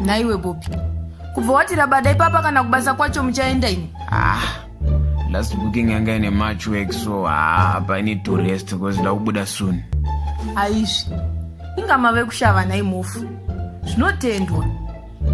nhaiwe bobi kubva wati rabada ipapa kana kubasa kwacho muchaenda ini ah. last booking yanga ine march work so haa apa i need to rest because nda kubuda soon aizvi inga mave kushava nhai mofu zvinotendwa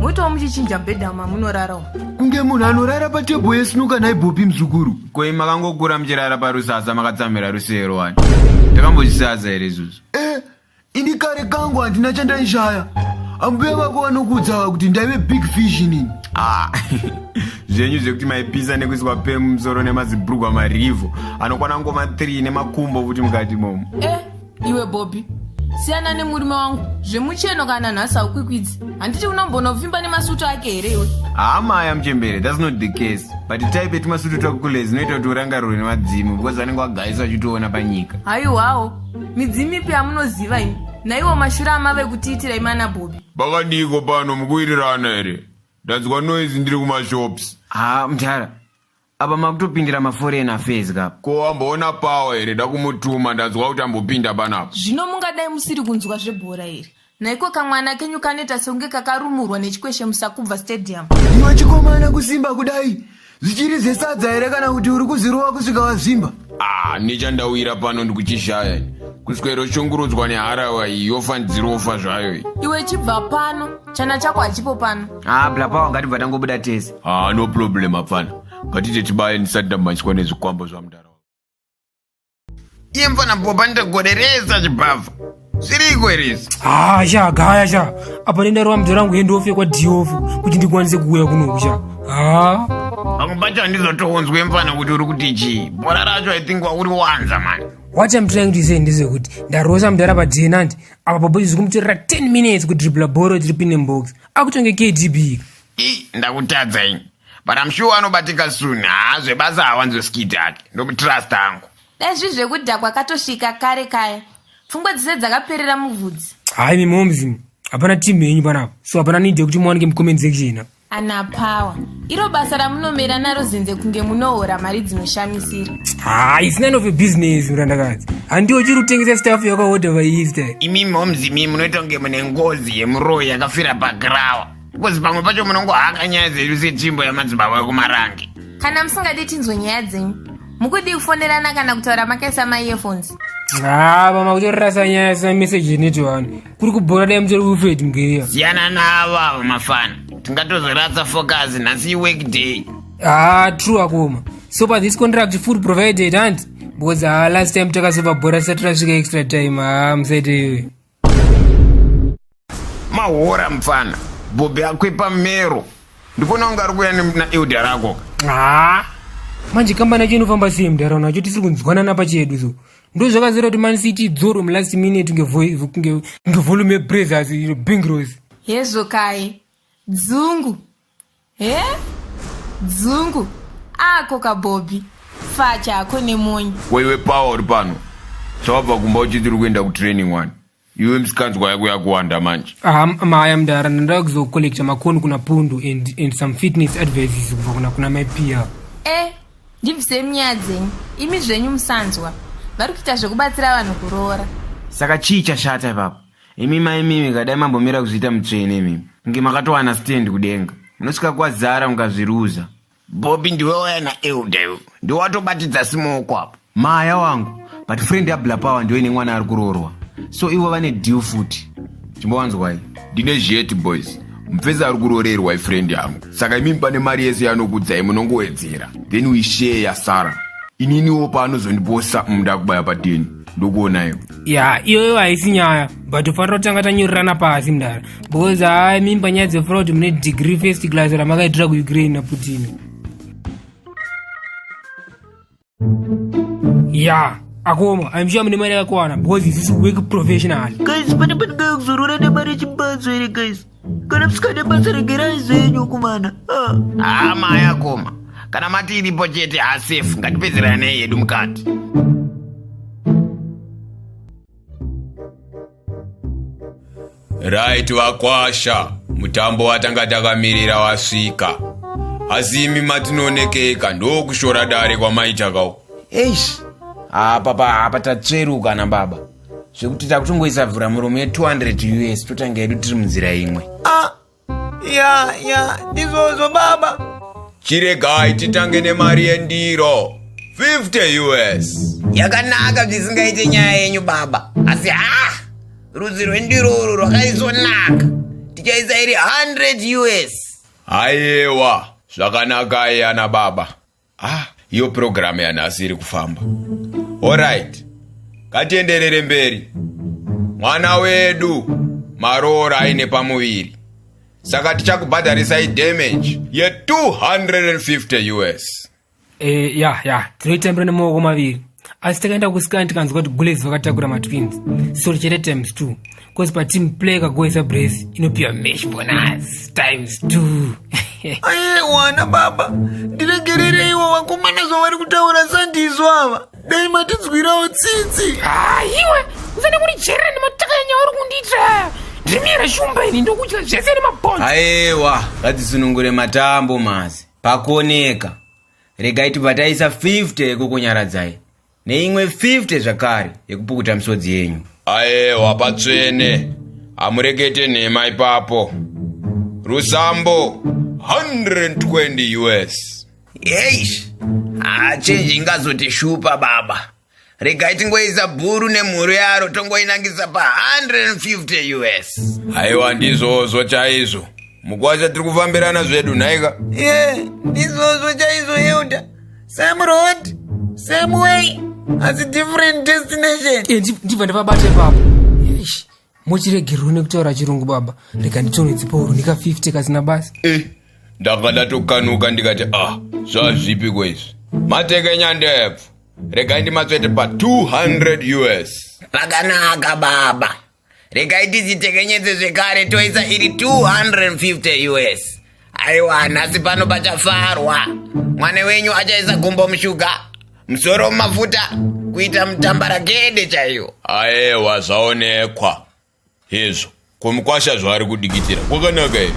moitawo muchichinja bhedha mamunorara umu kunge munhu anorara patebho yesinuka nhai bopi muzukuru koi makangokura muchirara parusasa makatsamira rusero wani ndakambozvisaza here izvozvo eh Ini kare kangu handina chandaishaya. Ambuya vako vanokuudza kuti ndaive big fish inini. Ah, zvenyu zvekuti maipisa nekuiswa pemu musoro nemazibhurugwa marivhu anokwana ngoma 3 nemakumbo kuti mukati momo. Eh, iwe Bobby, siyana nemurume wangu zvemucheno kana nhasi haukwikwidzi handiti unombonovimba nemasutu ake here iwe hama aya muchembere thats not the case but type yetimasutu twakukule zinoita kuti urangarirwe nemadzimu because vanenge wagaisa uchitoona panyika haiwawo midzimu ipi yamunoziva imi naiwo mashura amave kutiitira imi ana bobi bakadiiko pano mukuwirirana here ndanzwa noise ndiri kumashops haa mdara apa makutopindira maforeign affairs kapa ko amboona pawa here ndakumutuma ndanzwa kuti ambopinda panapa zvino mungadai musiri kunzwa zvebhora here Naiko kamwana kenyu kanoita sekunge kakarumurwa nechikweshe musakubva stadium. Iwe chikomana kusimba kudai zvichiri zvesadza here kana kuti uri kuzirova kusvika wazvimba? Ah, nechandawira pano ndikuchishaya ini. Kuswero shungurudzwa neharawa iyi yofa ndirofa zvayo iyi. Iwe chibva pano, chana chako hachipo pano. Ah, blapawa ngatibva tangobuda tese. Ah, no problem apana. Ngatite tibaye ndisati ndamhanyiswa nezvikwambo zvamudara. Iye mfana boba ndogoderesa chibhavha. Zviriko here izvi? Ah, sha gaya sha. Apa nenda rwa mdora wangu hendo ofye kwa diofu kuti ndikwanise kuuya kuno sha. Ah. Pamwe pacho handizotoonzwe mfana kuti uri kuti chii. Bora racho I think wauri wanza mani. What I'm trying to say ndezvekuti ndarosa mdara pajenandi apa bobo izvi kumutorera 10 minutes kudribla boro tiri pine box akutonge KDB. Ii ndakutadza ini. but I'm sure anobatika soon haa zvebasa hawanzwe skit ake ndomutrust hangu dai zvi zvekudhakwa katosvika kare kaya pfungwa dzese dzakaperera muvhudzi hayi mi moms hapana team yenyu panapa so hapana need yekuti muwanike mucomment section ana power iro basa ramunomera naro zenze kunge munohora mari dzinoshamisira haa it's none of a business murandakadzi handiwo chiri kutengesa staff yakahodha vaista imi moms imi munoita kunge mune ngozi yemuroyi yakafira pagrawa because pamwe pacho munongohaka nyaya dzedu setimbo yamadzibaba ekumarange kana musingadi tinzwe nyaya dzenyu mukudii kufonerana kana kutaura makaisa maearphones haa mama kutorasa nyaya sina message initi vanhu kuri kubhora dai mutori ufeti mugeriya siyana navo avo mafana tingatozoratsa focus nhasi iwork day haa true akoma so pa this contract food provided hanti because haa last time takazova bhora sati rasvika extra time haa musaite iwe mahora mupfana bhobhi akwepa mero ndikuona kunge ari kuuya naelda rako haa manje kambani yacho inofamba sei mudharauna yacho tisiri kunzwana napa chedu so ndo zvakazera kuti man city idzoro mulast minute ngevolume yebrathers iro bingros yezokai dzungu he dzungu ako kabhobhi facha ako nemonyi kweiwe pawa uri pano sawabva kumba uchiti uri kuenda kutraining wani iwe misikanzwa yako yakuwanda manje aha maya mdara ndandaa kuzocollecta makoni kuna pundu and, and some fitness advices kubva kuna kuna mai pia e ndibvisei munyaya dzenyu imi zvenyu musanzwa vari kuita zvekubatsira vanhu kuroora saka chii chashata ipapo Imi mai mimi kadai mambomira kuzviita mutsvene imimi kunge makatowana stand kudenga munosvika kwazara mukazviruza. Bobby ndiwe waya naElder iwe ndiwatobatidza simoko apo. Maya wangu but friend yabla power ndiyo ine mwana ari kuroorwa so ivo vane deal futi chimbowanzwai ndine zheti boys mupfesi ari kuroorerwa ifriend yangu saka imimi pane mari yese yanokudzai munongowedzera then we share yasara ininiwo paanozondiposa munda kubaya pateni ndokuonai ya iyoyo haisi nyaya but tofanira kutanga tanyorerana pasi mdara because haa mimba nyaya dzefura kuti mune degree first class ramakaitira kuukraine naputin ya akoma aimshuwa mune mari yakakuwana because isisi work professional guys pane panenge kuzorora nemari yechimbadzo here guys kana musikade basa regerai zvenyu kumana ah. hama ah, yakoma kana mati iripo chete hasefu ngatipedzeranei yedu mukati right vakwasha mutambo watanga takamirira wasvika asi imi matinoonekeka ndokushora dare kwamaitaka eish apa pa apa tatsveruka na baba zvekuti takutongoisa vhura muromo ye 200 us totanga yedu tiri munzira imwe ah, ya ya ndizvozvo baba chiregai titange nemari yendiro 50 us yakanaka zvisingaite nyaya yenyu baba asi ha rudzi rwendiro urwu rwakaisonaka tichaisa iri 100 us ayewa zvakanakai ana baba ah iyo purogiramu yanhasi iri kufamba orit ngatienderere mberi mwana wedu maroora aine pamuviri saka tichakubhadharisai damage ye 250 us e, ya ya tinoitembera nemaoko maviri asi takaenda kusikani tikanzwa kuti gulezi vakatakura matwins sori chete times two bcause pateam play kagoisa brace inopiwa mesh bonus times two aiwana baba ndiregerereiwo vakomana zvavari kutaura sandizvo ava dai matinzwirawo tsitsi haiwa usane kurijerera nemataka yanyaya uri kundiitira ndimiyera shumba ini ndokudya zvese nemabhonzi aiwa ngatisunungure matambo masi pakuoneka regai tibvataisa 50 yekukunyaradzai neimwe 50 zvakare yekupukuta misodzi yenyu ayewa patsvene hamurekete nhema ipapo rusambo 120 us eish hachenji ingazotishupa baba regai tingoisa bhuru nemhuru yaro tongoinangisa pa 150 us aiwa ndizvozvo chaizvo mukwasha tiri kufambirana zvedu nhaika ye ndizvozvo chaizvo elda same road same way asi different destination Eh, ndi- ndibva ndavabata ipapo muchiregerwo nekutaura chirungu baba rega nditonhodzipauro ndika 50 kasina basa eh, ndanga ndatokanuka ndikati ah zvazvipi kwaizvi mateke nyandebvu regai ndimatsvete pa 200 us pakanaka baba regai tizitekenyedze zvekare toisa iri 250 us Aiwa, nhasi pano pachafarwa. Mwana wenyu achaisa gumbo mushuga, musoro mumafuta, kuita mutambarakede chaiyo. Aewa, zvaonekwa. Hezvo, kumukwasha zvaari kudikitira. Kwakanaka here?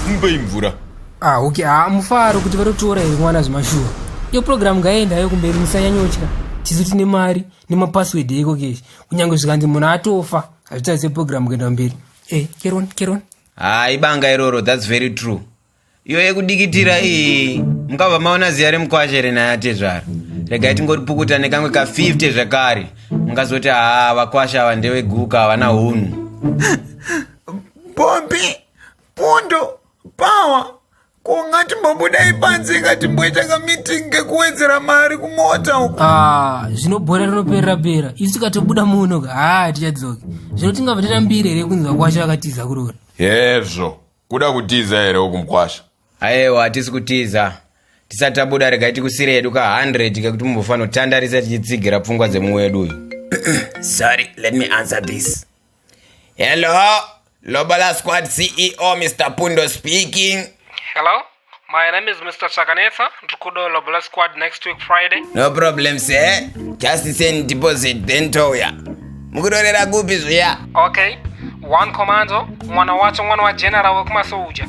Mupei mvura. Ah, okay. Ah, mufaro kuti vatotora here mwana zvemashuwa. Iyo program ngaenda hayo kumberi musanyanyotya. Tisu tine mari nemapassword eko keshi. Kunyange zvikanzi munhu atofa, hazvitarise program kuenda kumberi. Eh, keron, keron. haa ibanga iroro thats very true iyo yekudikitira iyi mukabva maona ziya remukwashe renaya tezvara regai tingoripukuta nekamwe ka 50 zvekare mungazoti haa vakwasha ava ndeveguka havana hunhu pombi pundo pawa Ko ngatimbobuda ipanze ngatimboita kameeting kekuwedzera mari kumota uko. Ah, zvinobhora rinoperera pera. Isu tikatobuda muno ka. Ah, tichadzoki. Zvino tingabva tatambire here kunzi vakwasha vakatiza kurora. Hezvo. Kuda kutiza here uku mkwasha? Ayewa hatisi kutiza. Tisati tabuda rega tikusire yedu ka 100 kekuti mumbofanira kutandarisa tichitsigira pfungwa dzemuwedu uyu. Sorry, let me answer this. Hello, Lobola Squad CEO Mr. Pundo speaking. Hello, my name is Mr. Chakanetsa. Ndikudo Lobola Squad next week Friday. No problem, sir. Just send deposit then toya. Mukudorera kupi zviya? Okay. One commando, mwana wacho mwana wa general wekumasoja.